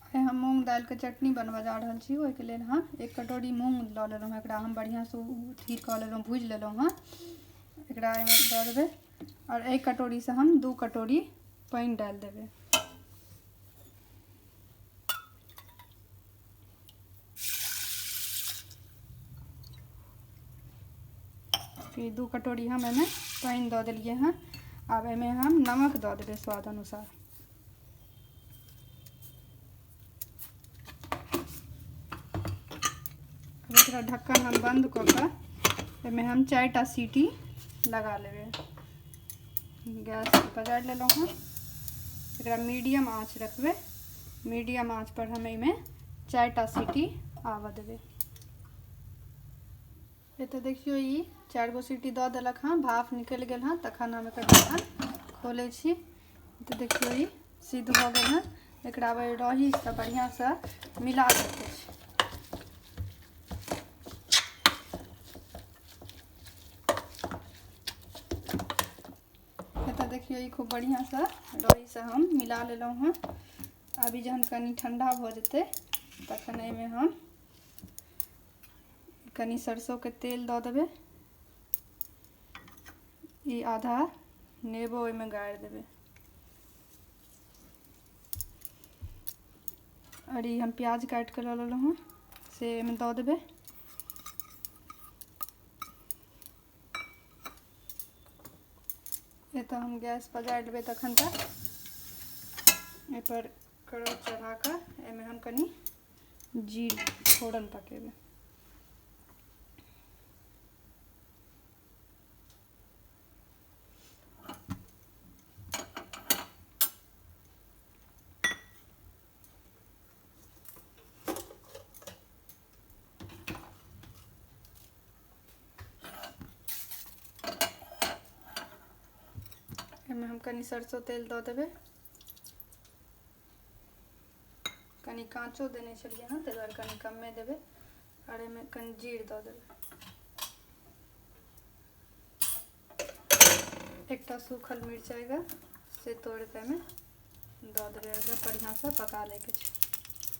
आइ हम मूँग दालिके चटनी बनबऽ जा रहल छी ओहिके लेल हम एक कटोरी मूँग लऽ लेलहुँ हँ एकरा हम बढ़िआँसँ अथी कऽ लेलहुँ भूजि लेलहुँ हँ एकरा एहिमे दऽ देबै आओर एहि कटोरीसँ हम दू कटोरी पानि डालि देबै कि दू कटोरी हम एहिमे पानि दऽ देलिए हँ आब एहिमे हम नमक दऽ देबै स्वाद अनुसार एकरा ढक्कन हम बंद कऽ कऽ एहिमे हम चारि टा सीटी लगा लेबै गैस पजारि लेलहुँ हँ एकरा मीडियम आँच रखबै मीडियम आँच पर हम एहिमे चारि टा सीटी आबऽ देबै एतऽ देखियौ ई चारि गो सीटी दऽ देलक हँ भाफ निकलि गेल हँ तखन हम एकर ढक्कन खोलै छी तऽ देखियौ ई सिद्ध भऽ गेल हँ एकरा अब रहीसँ बढ़िआँसँ मिला सकै छी एतऽ देखियौ ई खूब बढ़िआँसँ रहीसँ हम मिला लेलहुँ हँ अभी जहन कनि ठण्डा भऽ जेतै तखन एहिमे हम कनि सरसोके तेल दऽ देबै ई आधा नेबो ओहिमे गाड़ि देबै आओर ई हम प्याज काटि कऽ लऽ लेलहुँ हँ से ओहिमे दऽ देबै एतऽ हम गैस पजारि लेबै तखन तक एहिपर कड़ा चढ़ा कऽ एहिमे हम कनि जीर फोरन पकेबै एहिमे हम कनि सरसो तेल दऽ देबै कनि काँचो देने छलियै हँ ताहि दुआरे कनि कमे देबै आओर एहिमे कनि जीर दऽ देबै एकटा सूखल मिरचाइके से तोड़िके एहिमे दऽ देबै एकरा बढ़िआँसँ पका लैके छै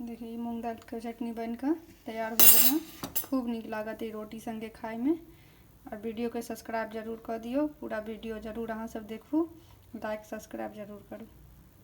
देखिए मूँग दालिके चटनी बनि कऽ तैयार भऽ गेल हँ खूब नीक लागत ई रोटी सङ्गे खाइमे आओर वीडियोके सब्सक्राइब जरूर कऽ दियौ पूरा वीडियो जरूर अहाँसभ देखू लाइक सब्सक्राइब जरूर करू